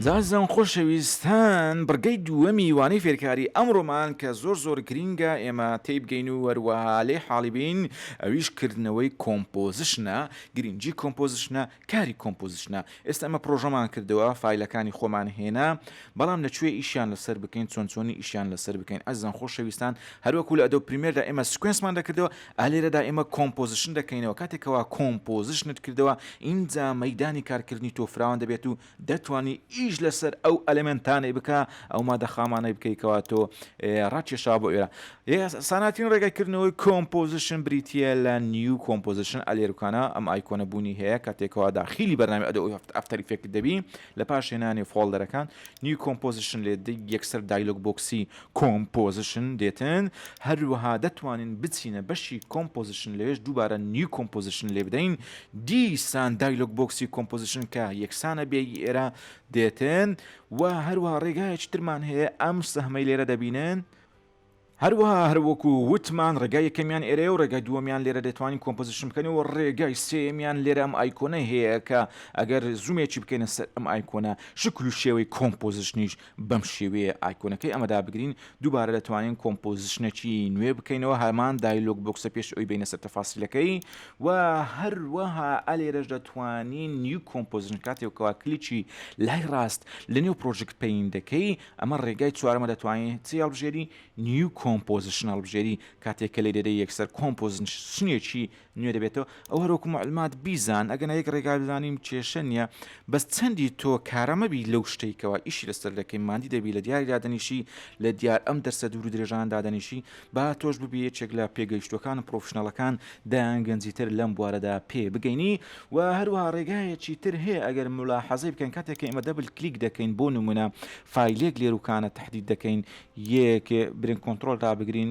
جاشزان خۆشەویستان بڕگەی دووەمی وانەی فێرکاری ئەمڕۆمان کە زۆر زۆر گرینگە ئێمە تێیبگەین و هەروەها لێی حاڵی بین ئەویش کردنەوەی کۆمپۆزشنە گرینگی کۆمپۆزشنە کاری کۆمپۆزشنە ئێستا ئێمە پڕۆژەمان کردەوە فایلەکانی خۆمان هێنا بەڵام لە کوێ ئیشیان لەسەر بکەین چۆن چۆنی ئیشیان لەسەر بکەین ئەزان خۆشەویستان هەروەکو لە ئەدۆب پریمێردا ئێمە سکوێنسمان دەکردەوە ئالێرەدا ئێمە کۆمپۆزشن دەکەینەوە کاتێکەوە کۆمپۆزشنت کردەوە ئینجا مەیدانی کارکردنی تۆ فراوان دەبێت و دەتوانی ئیش لەسەر ئەو ئەلێمێنتانەی بکا ئەو مادە خامانەی بکەی کەوا تۆ ڕاکێشا بۆ ئێرە ساناتین ڕێگای کردنەوەی کۆمپۆزیشن بریتە لە نیو کۆمپۆزیشن ئەلێرکانە ئەم ئایکۆنە بوونی هەیە کاتێکەوە داخیلی بەرنامی ئەدە ئەوی هەفت ئەفتەری فێکت دەبی لە پاش هێنانی فۆڵدەرەکان نیو کۆمپۆزیشن لێ یەکسەر دایلۆک بۆکسی کۆمپۆزشن، دێتن، هەروەها دەتوانین بچینە بەشی کۆمپۆزشن لەوێش دووبارە نیو کۆمپۆزشن لێبدەین، دیسان دایلۆگ بۆکسی کۆمپۆزشن کە یەکسانە بێ ی ئێرە، دێتن، و هەروەها ڕێگایەکی ترمان هەیە ئەم سەهمەی لێرە دەبینن، هەروەها هەر وەکو وتمان ڕێگای یەکەمیان ئێرەیە و ڕێگای دووەمیان لێرە دەتوانین کۆمپۆزشن بکەین و ڕێگای سێیەمیان لێرە ئەم ئایکۆنەی هەیە کە ئەگەر زومێکی بکەینە سەر ئەم ئایکۆنە شکل و شێوەی کۆمپۆزشنیش بەم شێوەیە ئایکۆنەکەی ئەمە دابگرین، دووبارە دەتوانین کۆمپۆزیشنەکی نوێ بکەینەوە، هەمان دایلۆگ بۆکسە پێش ئەوەی بێینە سەر تەفاسیلەکەی و هەروەها ئەلێرەش دەتوانین نیو کۆمپۆزیشن کاتێک کەوا کلیکی لای ڕاست لەنێو پڕۆژکت پەین دەکەی ئەمە ڕێگای چوارەمە دەتوانین چی هەڵبژێری نیو کۆمپۆزیشن هەڵبژێری کاتێک کە لێ دەدەی یەکسەر کۆمپۆزیشنێکی نوێ دەبێتەوە ئەو هەر وەکو معلمات بیزان ئەگەنا یەک ڕێگا بزانیم کێشە نییە بەس چەندی تۆ کارە مەبی لەو شتەی کەوا ئیشی لەسەر دەکەی مادی دەبی لە دیاری دادەنیشی لە دیار ئەم دەرسە دوور درێژان دادەنیشی با تۆش ببی یەکێک لە پێگەیشتوەکان و پرۆفشنەڵەکان دایان گەنجی تر لەم بوارەدا پێ بگەینی و هەروها ڕێگایەکی تر هەیە ئەگەر ملاحەزەی بکەن کاتێک ئێمە دەبل کلیک دەکەین بۆ نمونە فیلێک لێروکانە تهدید دەکەین یەک برین کۆنتترۆل دابگرین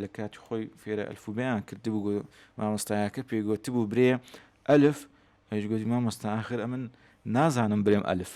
لە کاتی خۆی فێرە ئەلفوبیان کردبوو گو مامۆستایەکە پێی گوتبوو برێ ئەلف ئەش گوتی مامۆستا ئاخر ئەمن نازانم برێم ئەلف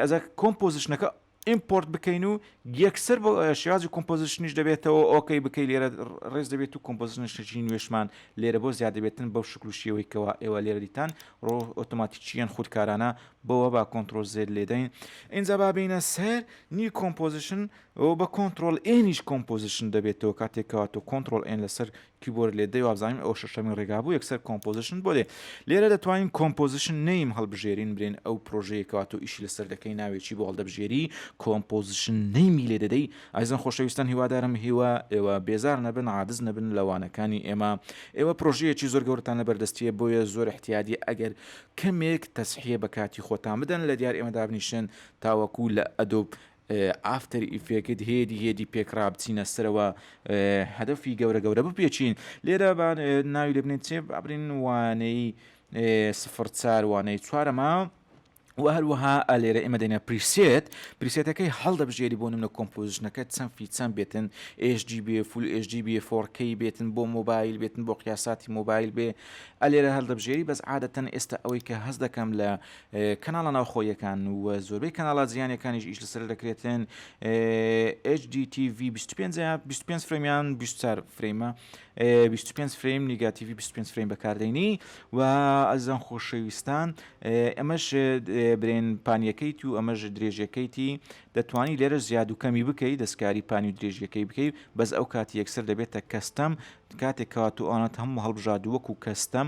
ئەزا کۆمپۆزیشنەکە ئیمپۆرت بکەین و یەکسەر بۆ شێوازی کۆمپۆزیشنیش دەبێتەوە ئۆکەی بکەی لێرە ڕێز دەبێت و کۆمپۆزیشنشتەچین نوێشمان لێرە بۆ زیاد دەبێتن بەو شکل و شێوەیکەوە ئێوە لێرە دیتان ڕۆ ئۆتۆماتیکیان خودکارانە بەوە با کۆنتترۆل زێر لێدەین ئینجا بابینە سەر نی کۆمپۆزیشن ئەوە بە کۆنتڕۆڵ ئێنیش کۆمپۆزیشن دەبێتەوە کاتێک کەوا تۆ کۆنتڕۆڵ ئێن لەسەر کیبۆرد لێ دەی وابزانین ئەو شەشەمین ڕێگا بوو یەکسەر کۆمپۆزیشن بۆ دێ لێرە دەتوانین کۆمپۆزیشن نیم هەڵبژێرین برێن ئەو پرۆژەیەکەوە تۆ ئیشی لەسەر دەکەی ناوێکی بۆ هەڵدەبژێری کۆمپۆزیشن نیمی لێ دەدەی ئایزان خۆشەویستان هیوادارم هیوا ئێوە بێزار نەبن عادز نەبن لەوانەکانی ئێمە ئێوە پرۆژەیەکی زۆر گەورتان لە بەردەستیە بۆیە زۆر احتیادی ئەگەر کەمێک تەسحیە بە کاتی خۆتان بدەن لە دیار ئێمە دابنیشن تاوەکو لە ئەدۆب ئافتەر ئیفێکت هێدی هێدی پێک ڕابچینە سەرەوە هەدەفی گەورە گەورە بپێچین لێرە بان ناوی لێ بنێت چێ بابرین وانەی سفر چار وانەی چوارەمە و هەروەها ئەلێرە ئێمە دەینە پریسێت پریسێتەکەی هەڵدەبژێری بۆ نمە کۆمپۆزیشنەکە چەند فیچەند بێتن ئێژدی بێ فول ئێژدی بێ فۆرکەی بێتن بۆ مۆبایل بێتن بۆ قیاساتی مۆبایل بێ ئەلێرە هەڵدەبژێری بەس عادەتەن ئێستا ئەوەی کە هەز دەکەم لە کەناڵە ناوخۆییەکان و زۆربەی کەناڵە جیهانیەکانیش ئیش لەسەر دەکرێتن HDTV 25 25 فرەمیان 24 فرەیمە 25 فرەیم نیگاتیوی 25 فرەیم بەکاردەینی و ئەزان خۆشەویستان ئەمەش برێن پانیەکەیت و ئەمەش درێژەکەیتی دەتوانی لێرە زیاد و کەمی بکەیت دەستکاری پانی و درێژیەکەی بکەیت بەس ئەو کاتی یەکسەر دەبێتە کەستەم کاتێک کاتوانات هەموو هەڵبژاد وەکو کەستەم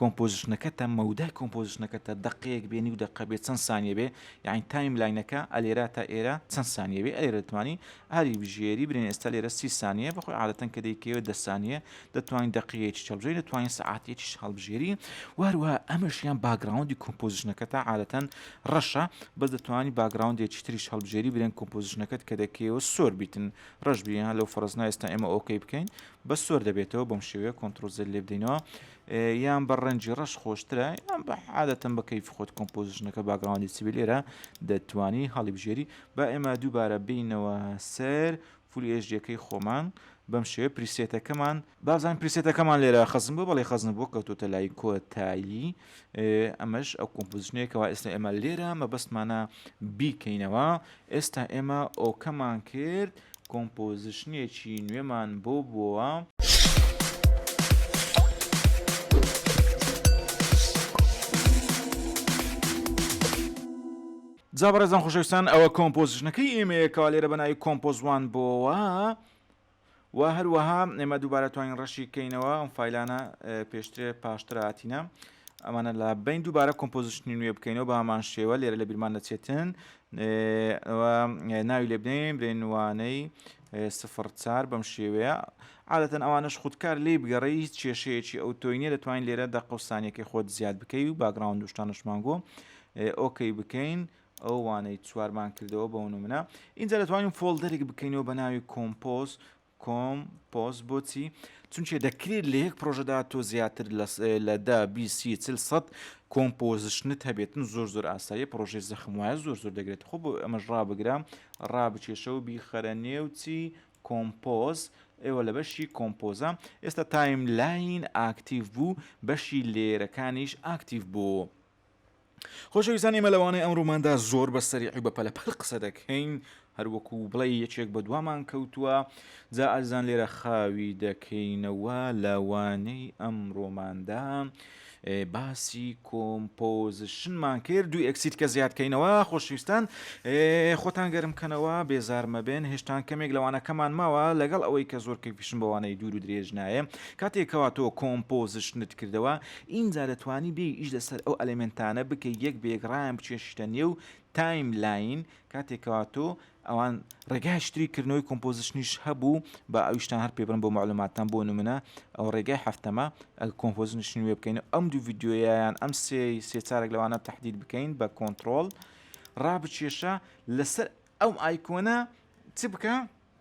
کۆمپۆزشنەکەتە مەودای کۆمپۆزشنەکەتە دەقەیەک بێ نیو دەقە بێ چەند سانیە بێ یەعنی تایم لاینەکە ئەلێرا تا ئێرا چەند سانیە بێ ئەلێرە دەتوانی ئاری بژێری برێن ئێستا لێرە سی سانیە بەخۆی عادەتەن کە دەیکەوێت دە سانیە دەتوانین دەقیەیەکی چەڵبژێری دەتوانین سەعاتێکیش هەڵبژێری واروا ئەمەشیان باگراوندی کۆمپۆزشنەکە تا عادەتەن ڕەشە بەس دەتوانانی باگراوندێکی تریش هەڵبژێری برێن کۆمپۆزشنەکەت کە دەکەیەوە سۆر بیتن ڕەش بیان لەو فەرزنا ئێستا ئێمە ئۆکەی بکەین بە سۆر دەبێتەوە بەم شێوەیە کۆنتڕۆزل لێ بدەینەوە یان بە ڕەنجی ڕەش خۆشترە یان بە عادەتەن بە کەیفی خۆت کۆمپۆزیشنەکە باگراوندی چبی لێرە دەتوانی هەڵیبژێری با ئێمە دووبارە بینەوە سەر فولی ئێژدیەکەی خۆمان بەم شێوە پریسێتەکەمان بازان پریسێتەکەمان لێرە خەزم بۆ بەڵی خەزن بۆ کەوتۆتە لای کۆتایی ئەمەش ئەو کۆمپوزشنێکەوە ئێستا ئێمە لێرە مەبەستمانە بیکەینەوە ئێستا ئێمە ئۆکەمان کرد کۆمپۆزشنێکی نوێمان بۆ بۆوە. جا بەڕێزان خۆشەویستان ئەوە کۆمپۆزشنەکەی ئێمەیە کەوا لێرە بە ناوی کۆمپۆز وان بۆوە. وە هەروەها ئێمە دووبارە توانین ڕەشی کەینەوە ئەم فیلانە پێشترێ پاشتر هاتینە ئەمانە لە بین دووبارە کۆمپۆزیشنی نوێ بکەینەوە بەمان شێوە لێرە لە بیرمان دەچێتن ناوی لێ بدەین برێنوانەی سفر چار بەم شێوەیە عادەتەن ئەوانش خودکار لی بگەڕی هیچ کێشەیەکی ئەو تۆینە دەتوانین لێرە دە قوسانیەکەی خۆت زیاد بکەی و باگراوند دوشتانشمانگۆ ئۆکەی بکەین ئەو وانەی چوارمان کردەوە بەو نمونە اینجا دەتوانین فۆلدەرێک بکەینەوە بە ناوی کۆمپۆز کۆم پۆس بۆچی چونچێ دەکرێت لە یەک پرۆژەدا تۆ زیاتر لە دا بیسی چل سەد کۆمپۆزشنت هەبێتن زۆر زۆر ئاسایی پرۆژێ زەخم وایە زۆر زۆر دەگرێت خۆ بۆ ئەمەش ڕابگرام ڕابچێشە و بیخەرە نێوچی کۆمپۆز ئێوە لە بەشی کۆمپۆزە ئێستا تایم لاین ئاکتیڤ بوو بەشی لێرەکانیش ئاکتیڤ بوو. خۆشەویستان ئێمە لەوانەیە ئەمڕۆماندا زۆر بە سەریعی بە پەلەپەل قسە دەکەین هەروەکو بڵێ یەکێک بە دوامان کەوتووە جا ئازان لێرە خاوی دەکەینەوە لەوانەی ئەمڕۆماندا باسی کۆمپۆزشنمان کرد دوو ئەکسید کە زیادکەینەوە خۆشویستان خۆتان گەرم کەنەوە بێزارمە بێن هێشتان کەمێک لەوانەکەمان ماوە لەگەڵ ئەوەی کە زۆر کەفیشم بەوانەی دوور و درێژ نایە کاتێکەوە تۆ کۆمپۆزشنت کردەوە ئینجا دەتوانی بێی ئیش لەسەر ئەو ئەلێمێنتانە بکەی یەک بە یەک ڕایان بچێشیتە نێو تایم لاین کاتێک کەوا تۆ ئەوان ڕێگای شتری کردنەوەی کۆمپۆزیشنیش هەبوو با ئەویشتان هەر پێبرم بۆ معلوماتان بۆ نمونە ئەو ڕێگای هەفتەمە ئەگە کۆمپۆزیشن نوێ بکەین و ئەم دوو ڤیددیۆیان ئەم سێ سێ چارێک لەوانە تهدید بکەین بە کۆنتترۆل ڕابچێشە لەسەر ئەم ئایکۆنە چ بکە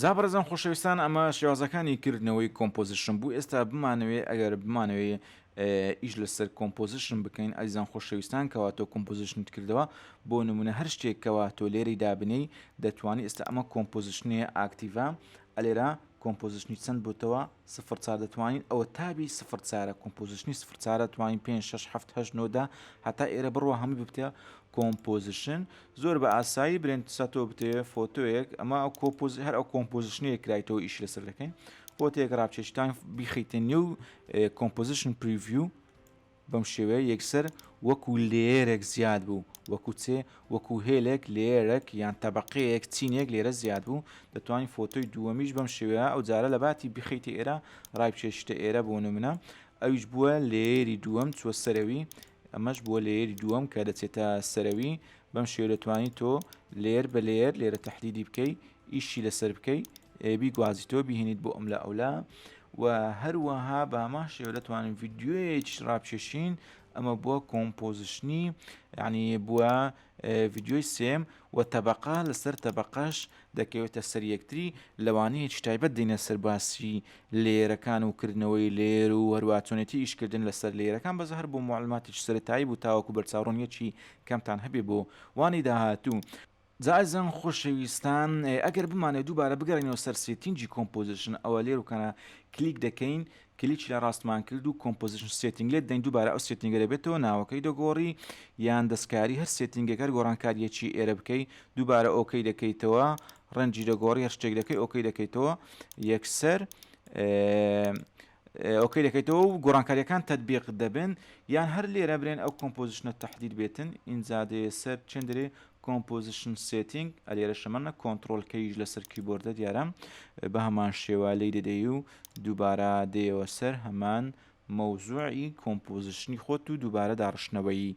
جا بەڕێزان خۆشەویستان ئەمە شێوازەکانی کردنەوەی کۆمپۆزیشن بوو ئێستا بمانەوێ ئەگەر بمانەوێ ئیش لەسەر کۆمپۆزیشن بکەین ئەزیزان خۆشەویستان کەوا تۆ کۆمپۆزیشنت کردەوە بۆ نمونە هەر شتێکەوە تۆ لێرەی دابنێی دەتوانانی ئێستا ئەمە کۆمپۆزیشنەیە ئاکتیڤە ئەلێرا کۆمپۆزیشنی چەند بۆتەوە سفر چار دەتوانین ئەوە تابی سفر چارە کۆمپۆزیشنی سفر چارە توانین پێ شش هەفت هەش نۆدا هەتا ئێرە بڕوە هەموو ببتە کۆمپۆزیشن زۆر بە ئاسایی برێن ساتۆ بتێ فۆتۆیەک ئەمە ئەو کۆپۆز هەر ئەو کۆمپۆزیشنەیە کرایتەوە ئیش لەسەر دەکەین فۆتێک ڕاپچێشتان بیخیتە نێو کۆمپۆزیشن پریڤیو بەم شێوەیە یەکسەر وەکو لێیەرێک زیاد بوو، وەکو چێ؟ وەکو هێلێک، لێیەرەک یان تەبەقەیەک، چینێک لێرە زیاد بوو، دەتوانین فۆتۆی دووەمیش بەم شێوەیە ئەو جارە لە باتی بیخەیتە ئێرە ڕایبکێشیتە ئێرە بۆ نمونە ئەویش بووە لێیەری دووەم چووە سەرەوی ئەمەش بووە لێیەری دووەم کە دەچێتە سەرەوی بەم شێوەیە دەتوانی تۆ لێیەر بە لێیەر لێرە تەحلیلی بکەی ئیشی لەسەر بکەی بیگوازیتەوە بیهێنیت بۆ ئەملا ئەولا و هەروەها باما شێوە دەتوانین ڤیددیوەیەکی ڕاپچێشین ئەمە بووە کۆمپۆزیشنی یعنی بووە ڤیددیۆی سێم و تەبقا لەسەر تەبقەش دەکەوێتە سەر یەکتری لەوانەیەکی تایبەت دێنە سەر باسی لێرەکان و کردنەوەی لێر و هەروواچۆنێتی ئیشکردن لەسەر لێرەکان بەز هەر بۆ معلوماتیش سەرتایی بوو تاوەکو بەرچاوڕۆنیەکی کەمتان هەبێ بۆ وانی داهاتوو جا ئەزیزان خۆشەویستان ئەگەر بمانەوێت دووبارە بگەڕێنەوە سەر سێتینگی کۆمپۆزیشن ئەوە لێر و کەنە کلیک دەکەین کلیکی لە ڕاستمان کرد و کۆمپۆزیشن سێتینگ لێت دەین دووبارە ئەو سێتینگە دەبێتەوە ناوەکەی دەگۆڕی یان دەستکاری هەر سێتینگەکەر گۆڕانکاریەکی ئێرە بکەی دووبارە ئۆکەی دەکەیتەوە ڕەنجی دەگۆڕی هەر شتێک دەکەی ئۆکەی دەکەیتەوە یەکسەر ئۆکەی دەکەیتەوە و گۆڕانکاریەکان تەتبیق دەبن یان هەر لێرە برێن ئەو کۆمپۆزیشنە تەحدید بێتن ئینجا دەیە سەر چێن دەرێ کۆمپۆزیشن سێتینگ ئەلێرە شەمەە کۆنتترۆل کەیش لەسەر کیبۆردە دیارە بە هەمان شێوە لی دەدەی و دووبارە دێەوە سەر هەمان مەوزوعی کۆمپۆزیشنی خۆت و دووبارە داڕشتنەوەی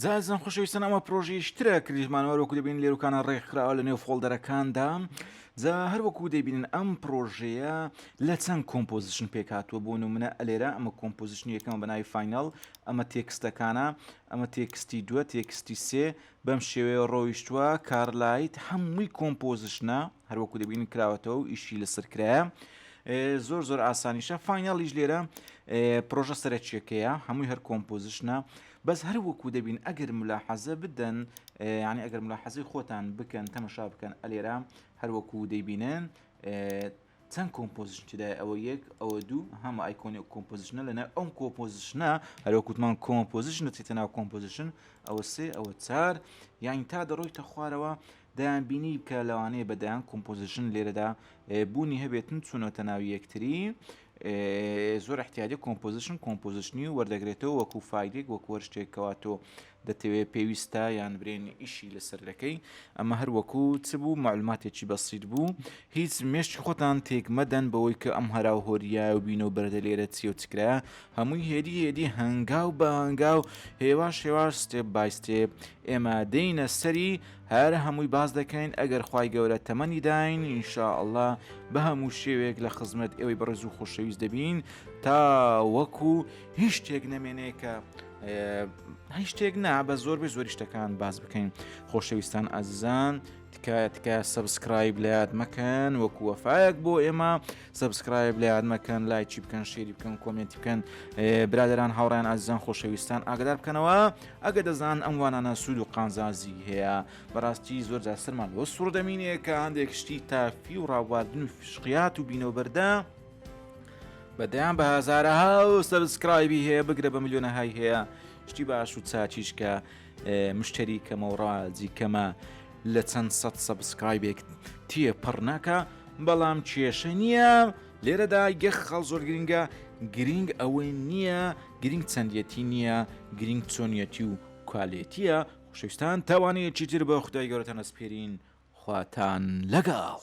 جا ئەزیزان خۆشەویستان ئەمە پرۆژەی شترە کریژمان وەر وەکو دەبین لێروکانە ڕێکخراوە لە نێو فۆڵدەرەکاندا جا هەر وەکو دەبینن ئەم پرۆژەیە لە چەند کۆمپۆزیشن پێکاتوە بۆ نمونە ئەلێرە ئەمە کۆمپۆزیشن یەکەمە بەناوی فینال ئەمە تێکستەکانە ئەمە تێکستی دووە تێکستی سێ بەم شێوەیە ڕۆیشتووە کارلایت هەمووی کۆمپۆزیشنە هەر وەکو دەبینن کراوەتەوە و ئیشی لەسەر کرایە زۆر زۆر ئاسانیشە فینالیش لێرە پرۆژە سەرەکیەکەیە هەمووی هەر کۆمپۆزیشنە بەس هەر وەکو دەبین ئەگەر ملا حەزە بدەن ینی ئەگەر ملا حەزی خۆتان بکەن تەمەشا بکەن ئەلێرە هەر وەکو دەیبینن چەند کۆمپۆزیشن تدای ئەوە یەک ئەوە دوو هەمە ئایکۆنی و کۆمپۆزیشنە لەنە ئەم کۆپۆزیشنە هەروکوتمان کۆمپۆزیشن دەچێتە ناو کۆمپۆزیشن ئەوە سێ ئەوە چار یانی تا دەڕۆی تە خوارەوە دەیانبینی کە لەوانەیە بە دەیان کۆمپۆزیشن لێرەدا بوونی هەبێتن چونەتە ناو یەکتری زۆر احتیادی کۆمپۆزیشن کۆمپۆزیشنی و وەردەگرێتەوە وەکو فایلێک وەک وەرشتێکەوە تۆ دەتەوێت پێویستە یان برێن ئیشی لەسەر دەکەی ئەمە هەر وەکو چ بوو معلوماتێکی بەسیت بوو هیچ مێشتی خۆتان تێک مەدەن بەوەی کە ئەم هەرا و هۆریا و بینە و بەردە لێرە چی و چکرا هەمووی هێدی هێدی هەنگاو بە هەنگاو هێواش هێواش ستێپ بای ستێپ ئێمە دێینە سەری هەر هەمووی باس دەکەین ئەگەر خوای گەورە تەمەنی داین ان شاء اللە بە هەموو شێوێک لە خزمەت ئێوەی بەڕێز و خۆشەویست دەبین تا وەکو هیچ شتێک نەمێنێ کە هیچ شتێک نا بە زۆر بە زۆری شتەکان باز بکەین خۆشەویستان ئازیزان تکایە تکایە سەبسکرایب لات مەکەن وەکو وەفاەک بۆ ئێمە سەبسکرایب لە یاد مەکەن لایکی بکەن شێری بکەن کۆمێنتی بکەن برادران هاوڕیان ئازیزان خۆشەویستان ئاگدار بکەنەوە ئەگە دەزان ئەم وانانە سوود و قانزازی هەیە بەڕاستی زۆر جا سەرمان بۆ سوور دەمینێ کە هەندێک شتی تافی و ڕاواردن و فشقیات و بینەوەبەردە بەدەیان بە هزارە ها و سەبسکرایبی هەیە بگرە بە میلیۆنە های هەیە شتی باش و چاچیشکە مشتری کەمەوە ڕاجی کەمە لە چەند سەد سەبسکرایبێک تێ پەڕ ناکا بەڵام کێشە نییە لێرەدا یەخ خەڵ زۆر گرنگە گرنگ ئەوەی نییە گرنگ چەندەتی نییە گرنگ چۆنیەتی و کوالێتیە خوشستان تاوانەیەکی تر بە خدای گەورەتان ئەسپێرین خواتان لەگەڵ.